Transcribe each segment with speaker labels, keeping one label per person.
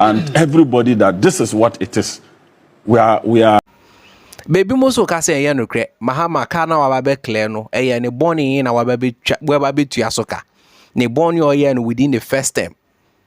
Speaker 1: and everybody that this is what it is we are we are. Baabi mo so ka sɛ ɛyɛ nokorɛ Mahama ka na waba bɛ clear no ɛyɛ ne bɔne na waba bɛ twa waba bɛ tua so ka ne bɔne ɔyɛ no within the first term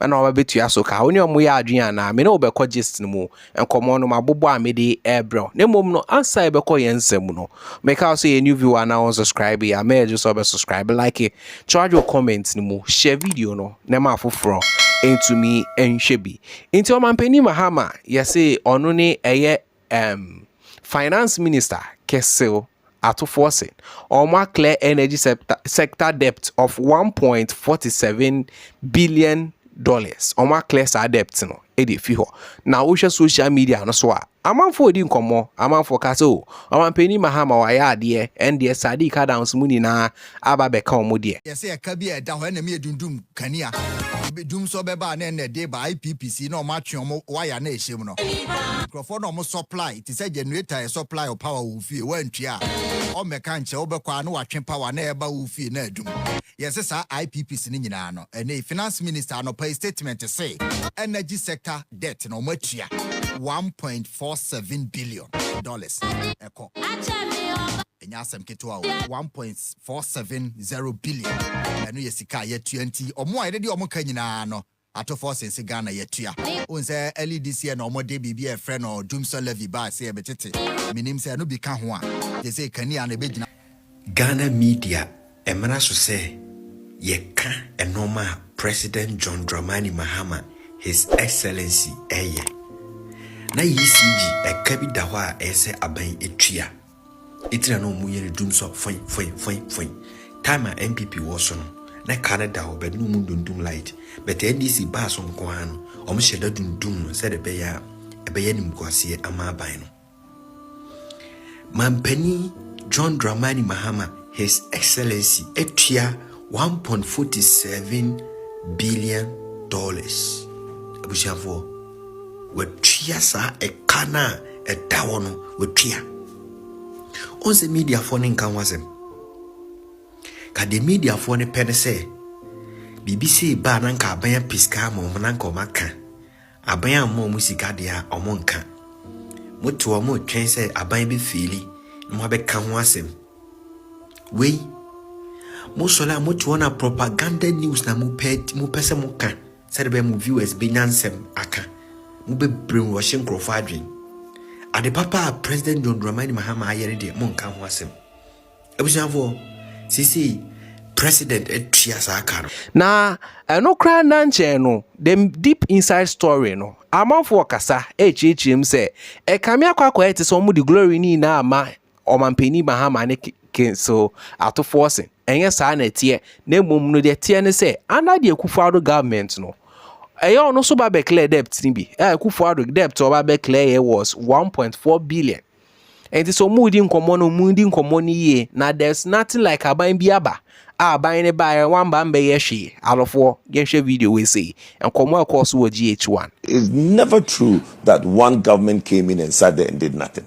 Speaker 1: ɛna waba bɛ tua so ka ɔne ɔmo yɛ adwene anaa me ne wo bɛkɔ gist no mu nkɔmɔ no mabobɔ a mede ɛɛbrɛ wo na mmom no ansa yɛbɛkɔ yɛn nsɛm mu no meka wo sɛ yɛ new viewer anaa wɔn subscribe a mɛɛgye sɛ ɔbɛ subscribe like charge wɔ comment no mu share video no. na ɛma afoforɔ ntumi nhwɛ bi. Nti Ɔmanpanin Mahama yɛse ɔno ne ɛyɛ um, Finance Minister kesew atofoɔ se ɔmo a clear energy sector, sector debt of 1.47 billion dollars, ɔmo a clear saa debt no. de afi hɔ. Na wohwɛ social media no so a, amanfoɔ redi nkɔmmɔ, amanfoɔ ka sɛ o, ɔmanpanin Mahama wayɛ adeɛ, ɛndeɛ Sadiq Adams mu nyinaa aba abɛka wɔn deɛ. Yɛ sɛ ɛka bi a ɛda hɔ ɛna me adundum kanea bi dum sɔ bɛba a na ɛna ɛde ba IPPC na wɔn atwe wɔn waya na ɛhyɛ mu no nkurɔfoɔ na wɔn supply te sɛ generator yɛ supply wo power wɔ wo fie woantua a wɔmmɛka nkyerɛ wo bɛkɔ a na watwe power na ɛreba wo fie na adum Yɛse saa IPPs no nyinaa no, ɛnnɛ yi Finance Minister anɔpa yi statement se energy sector debt no wɔn atua one point four seven billion dollars ɛkɔ. Ɛnyɛ asɛm ketewa o, one point four seven zero billion ɛno yɛ sika a yɛatua nti wɔn a yɛde di wɔn ka nyinaa no Ato fɔ se nse Ghana yatua. Wohu sɛ early this year na wɔde biribi a yɛfrɛ no Dumsor Levy bae sɛ yɛbetete. Mennim sɛ ɛno bi ka ho a. Gye sɛ kanea na ɛbɛgyina. Ghana media mmara so sɛ yɛka nnoɔma a President John Dramani Mahama, His Excellency, reyɛ. Na ECG ɛka bi da hɔ a ɛsɛ aban tua. Eti na na wɔn yɛ no dum sɔ fɔi fɔi fɔi fɔi. Time a NPP wɔ so no, na car no da hɔ but na wɔn dundum light. But NDC baa so nko ara no, wɔn hyɛ da dundum no sɛdeɛ ɛbɛyɛ a ɛbɛyɛ animguaseɛ ama aban no. Mampanin John Dramani Mahama, His Excellency, atua 1.47 billion dollars. Abusuafoɔ. Watua saa ɛka no a ɛda hɔ no, watua. Ɔn sɛ mediafoɔ no nka ho asɛm. Ka deɛ mediafoɔ no pɛ no sɛ biribi sei baa na nka aban apɛ sika ama wɔn na nka wɔn aka. Aban amma wɔn sika deɛ a wɔn nka. Mote wɔn retwɛn sɛ aban bɛfiili na wɔabɛka ho asɛm. Wei mosɔre a mote wɔn a propaganda news na mopɛ mopɛ sɛ moka. Sɛdeɛ ɛbɛyɛ mo viewers bɛnya nsɛm aka. Mo bɛ brainwashe nkorɔfoɔ adwen. Ade papa a President John Dramani Mahama ayɛ no deɛ monka ho asɛm. Abusuafoɔ, seesei President atua saa ka no. Na ɛno koraa nna nkyɛɛ no, the deep inside story no, amanfoɔ kasa ɛrekyerɛkyerɛ mu sɛ, ɛkame akɔ akɔyɛ te sɛ wɔde glory no nyinaa ama Ɔmanpanin Mahama ne Kenso atofoɔ se ɛnyɛ saa na ɛteɛ na mmom no deɛ ɛteɛ ne sɛ under the Akufo-Addo government no ɛyɛ ɔno nso ba bɛclare debt no bi a Akufo-Addo debt ɔba bɛclare yɛ was 1.4 billion nti sɛ ɔmo di nkɔmɔ no ɔmo di nkɔmɔ no yie na there's nothing like aban bi aba a aban no baeɛ wamba mbɛyɛ hwee alɔfoɔ yɛnhwɛ video wei sei nkɔmɔ a ɛkɔɔ so wɔ GH1. It's never true that one government came in and sat there and did nothing.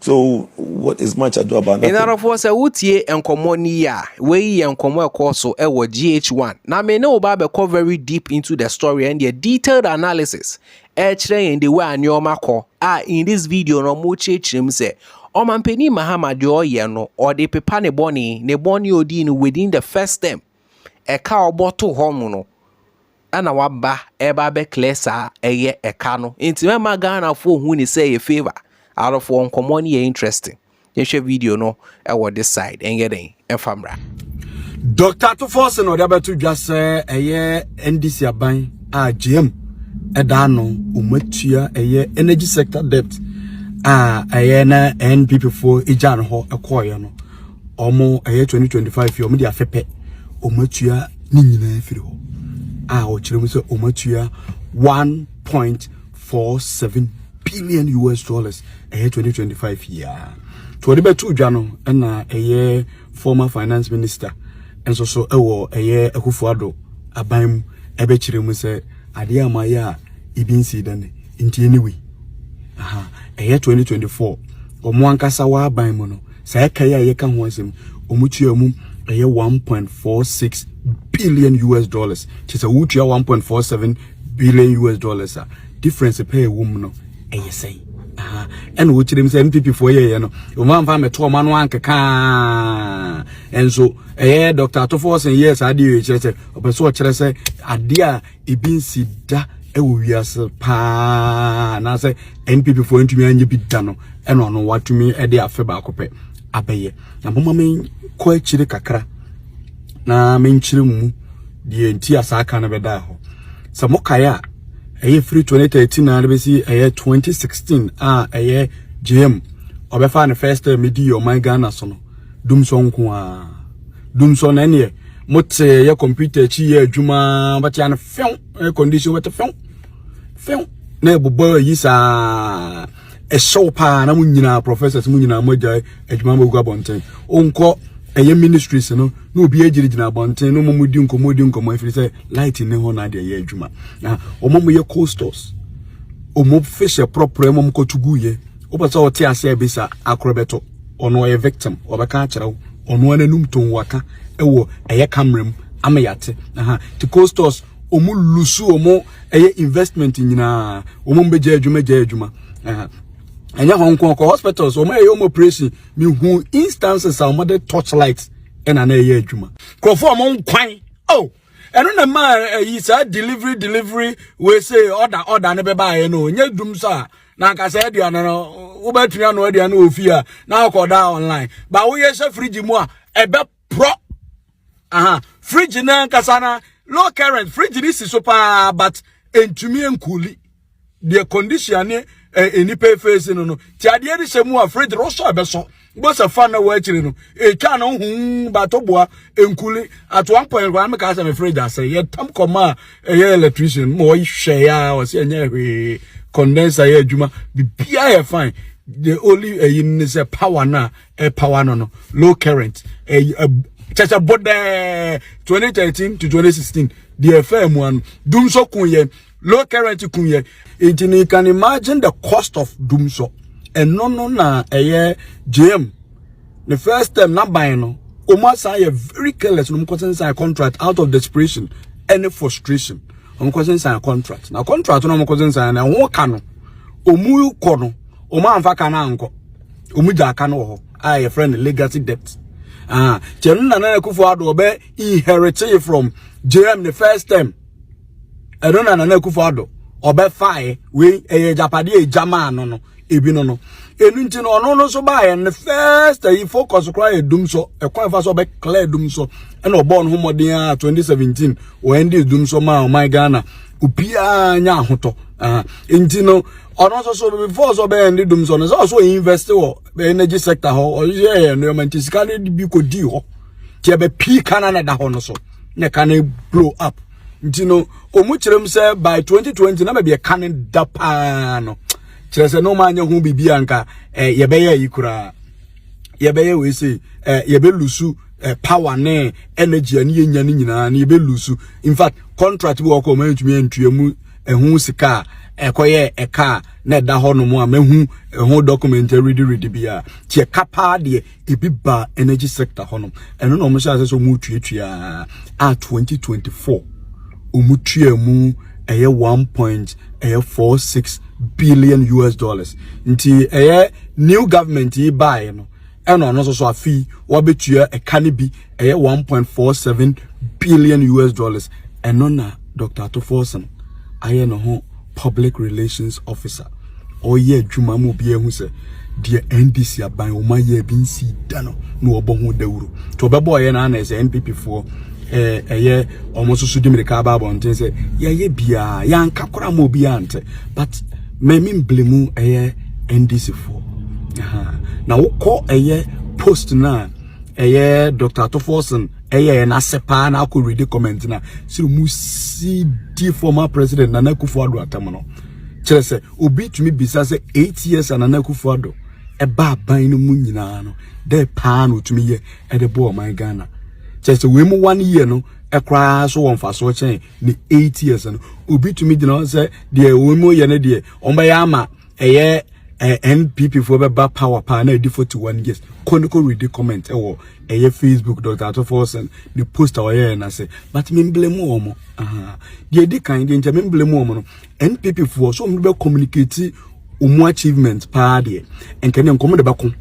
Speaker 1: So what is much ado about nothing? Nnadɔfoɔ sɛ wotie nkɔmmɔ no yie a, wei yɛ nkɔmmɔ ɛkɔɔ so wɔ GH1. Na me ne wo ba bɛkɔ very deep into the story ɛndeɛ detailed analysis ɛkyerɛ yɛn the way a nneɛma kɔ a in this video no wɔkyerɛkyerɛ mu sɛ Ɔmampanin Mahama deɛ ɔyɛ no ɔde pepa ne bɔne, ne bɔne a ɔdii no within the first term ɛka a ɔbɔ to hɔ mu no. ɛna waba ɛba bɛ clear saa ɛyɛ ɛka no nti mɛma Ghana foɔ hu ne sɛ yɛ favour arofoɔ nkɔmɔ no yɛ interesting yɛhwɛ video no ɛwɔ this side ɛnyɛ dɛn ɛfa mmra. Dr. Atufo se na ɔde abɛto dwa sɛ ɛyɛ NDC aban a GM ɛda ano ɔmatua ɛyɛ energy sector debt a ɛyɛ na NPP foɔ egya no hɔ ɛkɔɔyɛ no. ɔmo ɛyɛ 2025 yi ɔmo de afɛ pɛ ɔmo atua ne nyinaa firi hɔ a ɔkyerɛ mu sɛ ɔmo atua 1.47 billion us dollars ɛyɛ 2025 yi a to ɔde bɛto dwa no ɛna ɛyɛ former finance minister nso so ɛwɔ ɛyɛ akufo ado aban mu ɛbɛkyerɛ mu sɛ adeɛ a mayɛ a ebi nsi dɛ ne nti anyway ɛyɛ 2024 ɔmo ankasa wɔ aban mu no Saa ɛka yi a yɛka ho asɛm yi, wɔtua mu ɛyɛ one point four six billion US dollars. Kyerɛ sɛ wotua one point four seven billion US dollars a difference pɛ ɛwɔ mu no ɛyɛ sɛn? Aha ɛna wɔkyerɛ mu sɛ NPP foɔ yɛyɛ no wɔn amfa mmɛto wɔn ano ankeka nso ɛyɛ Dr. Atofo Ɔsen yɛɛ saa adeɛ yɛ kyerɛ sɛ ɔpɛ sɛ ɔkyerɛ sɛ adeɛ a ebi nsi da wɔ wiase paa anaasɛ npp foɔ ntumi anyɛ bi da no ɛna ɔno watumi de afe baako pɛ abɛyɛ na moma menkɔ akyire kakra na menkyerɛ mu deɛ nti a saa ka no bɛdaa hɔ sɛ mokaeɛ a ɛyɛ firi 2013 na bɛsi ɛyɛ 2016 a ɛyɛ jm ɔbɛfa ne first time medi ɔman ghana so no dumsɔ nko a dumsɔ na ɛneɛ mote yɛ computer akyi yɛ adwuma bɛte ano fɛw air condition bɛte fɛw fɛw na ɛbobɔ ayi saa ɛhyɛw paa na mo nyinaa professors mo nyinaa mo agya adwuma mo gu abɔnten wonkɔ ɛyɛ ministries no na obi agyinagyina abɔnten no mo di nkɔmmɔ di nkɔmmɔ ɛfiri sɛ light ne hɔ na adeɛ yɛ adwuma na wɔn mo yɛ coasters wɔn fish prɔprɔ wɔn kɔtugu yɛ wopɛ sɛ ɔte ase a bisa akorɔ bɛtɔ ɔno ɔyɛ victim ɔbɛka akyerɛ wo ɔno ananum tɔn waka ɛwɔ ɛyɛ camera mu ama yɛate aha te costos ɔmo lusu ɔmo ɛyɛ investment nyinaa ɔmo mbɛgya adwuma gya adwuma aha ɛnyɛ hɔn nko kɔ hospitals ɔmo ɛyɛ ɔmo operation mehu instances a ɔmo de torchlight ɛna na ɛyɛ adwuma nkurɔfoɔ ɔmo nkwan oh ɛno na ma ɛyi saa delivery delivery wei sɛ ɔda ɔda ne bɛbaeɛ no nyɛ dum so a na anka saa aduane no wobɛtumi ano aduane wɔ fie a na akɔda online ba woyɛ hyɛ fridge mu a ɛbɛporɔ aha fridge no ankasa na low current fridge no si so paa but ɛntumi nkuli deɛ condition ne nnipa efeesi no no ti adeɛ no hyɛ mu a fridge no sɔ ɛbɛsɔ Bosa fa na wɔakyire no ɛtwa no ho batoboa nkuli at one point kwa me ka sɛ me fridge asɛ yɛtam kɔma a ɛyɛ electrician ma ɔhwɛ ya ɔsɛ ɛnyɛ hwee condenser yɛ adwuma bibia yɛ fine the only ɛyi ne sɛ power na ɛ power no no low current ɛyi kyɛ sɛ bodɛɛ 2013 to 2016 deɛ ɛfɛ mu ano dum so ko yɛ low current kun yɛ nti no you can imagine the cost of dum so ɛno no na ɛyɛ jam the first term na ban no wɔn asan yɛ very careless na wɔn kɔsen sign contract out of desperation ɛne frustration wɔn kɔsen sign contract na contract no wɔn kɔsen sign na ɛho ka no wɔn kɔ no wɔn anfa ka no ankɔ wɔn gya aka no wɔ hɔ a yɛfrɛ no legacy debt ah kyɛn no na nana akufo ado ɔbɛ inherit from jam the first term. ɛno na nana akufo ado ɔbɛfae wei ɛyɛ japade a egya maa no no ebi no no enu nti no ɔno no nso baayɛ ne first ayi focus koraa yɛ dum so ɛkwan ɛfa so ɔbɛ clear dum so ɛna ɔbɔɔ no ho mmɔden a 2017 wɔn ndi dum so maa ɔman ghana obiara nya ahotɔ nti no ɔno nso so before so ɔbɛyɛ ne dum so no sɛ ɔso invest wɔ energy sector hɔ ɔyɛ yɛ nneɛma nti sika no bi kɔ di hɔ nti ɛbɛ pii kan na ɛda hɔ no so na ɛka no blow up. nti no ɔmu kyerɛ mu sɛ by 2020 na baabi ɛka ne da paa no kyerɛ sɛ na ɔma anyɛ ho biribi a nka eh, yɛbɛyɛ yi koraa yɛbɛyɛ wei sei eh, yɛbɛlusu eh, power ne energy a ne yɛnya no nyinaa no yɛbɛlusu in fact contract bi wɔkɔ ɔma yɛntumi antua mu ɛho sika a ɛkɔyɛ ɛka a na ɛda hɔ nom a mahu ɛho document redi redi bi a nti ɛka paa deɛ ebi baa energy sector hɔ nom ɛno na wɔn hyɛ ase sɛ wɔn tuatua a 2024 wɔn tua mu ɛyɛ 1 point ɛyɛ 46 billion us dollars nti ɛyɛ new government yi baeɛ no ɛna ɔno nso so afi wɔabɛtua ɛka no bi ɛyɛ 1.47 billion us dollars ɛno na dr atoforson ayɛ ne ho public relations officer ɔyɛ adwuma mu bi ehu sɛ deɛ ndc aban wɔn ayɛ bi nsi da no na wɔbɔ ho dawuro nti ɔbɛbɔ ɔyɛ na ana ɛsɛ npp foɔ ɛɛ ɛyɛ wɔn nso so di mirika aba abɔnten sɛ yɛayɛ biara yɛanka koraa ma obiara nte but mɛmi mbili mu ɛyɛ ndc foɔ na wokɔ ɛyɛ post no a ɛyɛ dr tofoɔson ɛyɛ yɛn ase paa na akɔ ready comment na sɛ mu si di former president nana akufo ado atam no kyerɛ sɛ obi tumi bisa sɛ eight years nana akufo ado ɛba aban no mu nyinaa no dɛ paa na otumi yɛ ɛde bɔ ɔman ghana kyerɛ sɛ wei mu one year no ɛkoraa so wɔ mfasoɔ kyɛn ne eight years no obi tumi gyina hɔ sɛ deɛ wɔn mu yɛ no deɛ wɔn bɛyɛ ama ɛyɛ eh, npp foɔ bɛba power paa na ɛdi 41 years kɔ ne kɔ read comment ɛwɔ ɛyɛ facebook dr atɔfoɔ sɛn ne post a ɔyɛɛ no ase but memblame wɔ mo aha deɛ ɛdi kan deɛ nkyɛ memblame wɔ mo no npp foɔ so ɔmo bɛ communicate ɔmo achievement paa deɛ nkɛ ne nkɔm de bɛko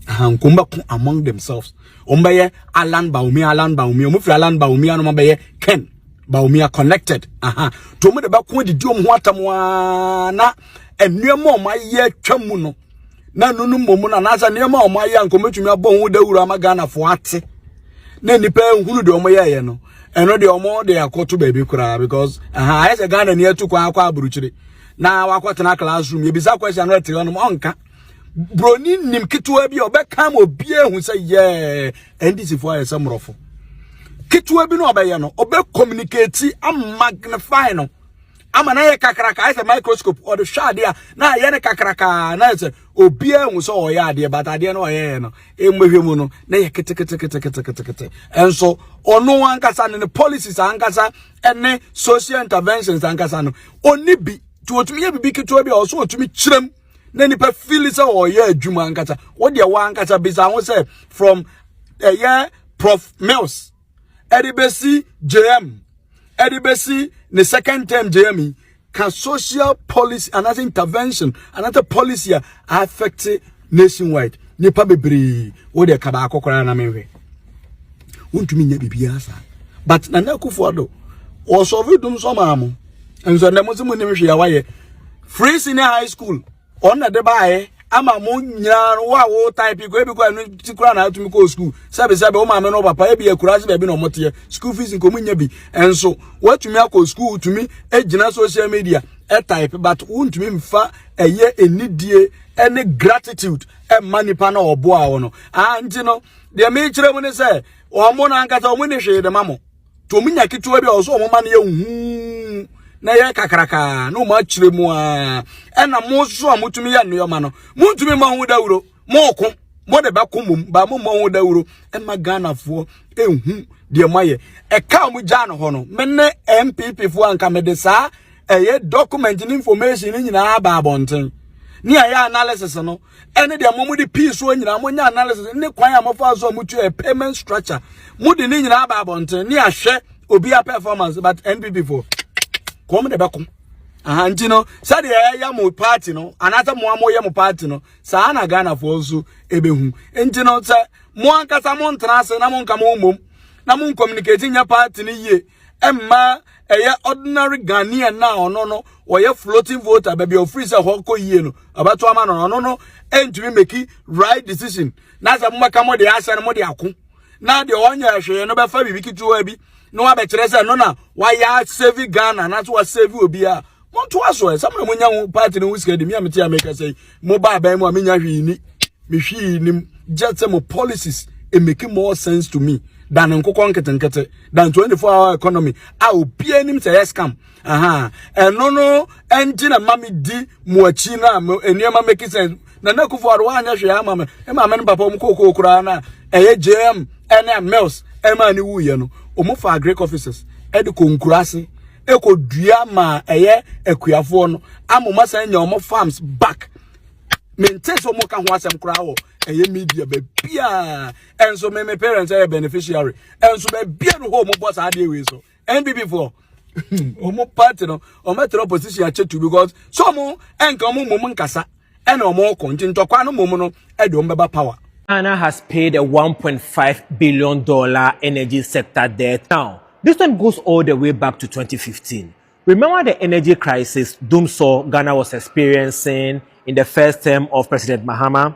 Speaker 1: aha nkɔm bɛko among themselves ɔmo bɛyɛ alan baomi alan baomi ɔmo firi alan baomi anoma bɛyɛ ken ba omi a connected aha to mu de bɛko didi ɔmo ho atam a na nneɛma ɔmo ayɛ atwa mu no na nunu mmom na anaasɛ nneɛma ɔmo ayɛ a nkɔmɛtumi abɔ ho dawuro ama ghanafoɔ ate na nnipa ehunu deɛ ɔmo yɛɛyɛ no ɛno deɛ ɔmo de akɔto baabi koraa because aha ayɛ sɛ ghana ni atu kwan akɔ aburukyire na wakɔtena classroom yɛbisa question no ɛte hɔ nom ɔnka broni nim ketewa bi a ɔbɛka ma obi ehu sɛ yɛɛ NDC fo ayɛ sɛ mmorɔfo ketewa bi na ɔbɛyɛ no ɔbɛ communicate amagnify no ama na yɛ kakraka ayɛ sɛ microscope ɔde hwɛ adeɛ a na ayɛ no kakraka na ayɛ sɛ obiara hu sɛ ɔyɛ adeɛ but adeɛ no ɔyɛyɛ no mmɛhwɛ mu no na yɛ keteketeketeketekete ɛnso ɔno ankasa ne ne policies ankasa ɛne social interventions ankasa no ɔni bi nti ɔtumi yɛ biribi ketewa bi a ɔso ɔtumi kyerɛm na nipa fili sɛ ɔyɛ adwuma ankasa wodeɛ wɔ ankasa bisa ho sɛ from ɛyɛ eh, prof mills ɛde bɛsi jm ɛde bɛsi ne second term jm yi ka social policy anaasɛ intervention anaasɛ policy a affect nationwide nipa bebree wodeɛ ka baako koraa na menhwɛ wontumi nyɛ biribiara saa but nana akufo ado ɔsɔre dum sɔ maa mo nso ɛnna mo nso mo nim hwee a wayɛ free senior high school ɔn na de baayɛ ama mo nyinaa no wo a wo type kɔ ebi kɔ ɛno ti kora na atumi kɔ school sɛbi sɛbi wo maame no papa ebi akura ase baabi na ɔmo teɛ school fees nkomo nya bi nso watumi akɔ school tumi egyina social media ɛtype but wontumi nfa ɛyɛ enidie ɛne gratitude ɛma nipa na ɔboa wɔn no ah nti no deɛ mekyerɛ mu ne sɛ wɔn mo na ankasa wɔn ni hwee de ma mo. to wɔn nya ketewa bi a ɔsɛ wɔn ma no yɛ huu na yɛ kakrakaa na wɔn akyerɛ mu a ɛna mo nso a motumi yɛ nneɛma no montumi mmɔ ho dawuro mooko mo de bɛko mmom baa mo mmɔ ho dawuro ɛma ghanafoɔ ɛhu deɛ moayɛ ɛka mo gyaa no hɔ no me ne npp foɔ anka mede saa ɛyɛ document ne information no nyinaa aba abɔnten ne ɛyɛ analysis no ɛne deɛ mo de pii soɔ nyinaa mo nyɛ analysis ne kwan a mofa so a motua payment structure mo de ne nyinaa ba abɔnten ne ahwɛ obiara performance but npp foɔ kɔm de bɛko aha nti no sɛdeɛ ɛyɛ mo party no anaasɛ mo a moyɛ mo party no saa na ghanafoɔ nso ɛbɛhu nti no sɛ mo ankasa mo ntena ase na mo nka mo mmom na mo communicate nyɛ party no yie ɛmmaa ɛyɛ ordinary ghanaian na ɔno no ɔyɛ floating voter baabi a ofiri sɛ hɔ kɔ yie no ɛbɛto ama no ɔno no ɛntumi meki right decision na sɛ mobɛka mo de ahyɛ no mo de ako na deɛ ɔnyɛ hwee no bɛfa biribi ketewa bi na wabɛkyerɛ sɛ no na wayɛ save ghana anaasɛ wasave obi a montoa so ɛ sɛ mona monya ho party no ho sika de me a mete a meka sɛ mobaa bɛn mu a menya hwee ni mehwii nim just sɛ mo policies it make more sense to me than nkokɔ nketenkete than 24 hour economy a obiara nim sɛ yɛ scam aha ɛno no ɛnti na ma me di mo akyi no a nneɛma make sense Nana Akufo Addo anyɛ hwee ama me. Me maame ne papa wɔn kookoo koraa na ɛyɛ JM ɛne Mills ɛma ani wu yɛ no. Wɔn fa Agric offices ɛde kɔ nkura ase ɛkɔ dua ma ɛyɛ akuafoɔ no ama wɔn asan nya wɔn farms back. Mente so wɔn ka ho asɛm koraa wɔ ɛyɛ media baabiara. Ɛnso me me parents ɛyɛ beneficiary. Ɛnso baabiara no hɔ wɔn bɔ saa adeɛ wei so. npp foɔ ɔmo party no ɔmo ɛtɛrɛ opposition akyɛ tu because so ɔmo ɛnka ɔmo mmom nkasa ɛna ɔmo kɔ nti ntɔkwa no mmom no ɛde ɔmo bɛba power. Ghana has paid a 1.5 billion dollar energy sector debt. Now, this one goes all the way back to 2015. Remember the energy crisis doomsaw Ghana was experiencing in the first term of President Mahama?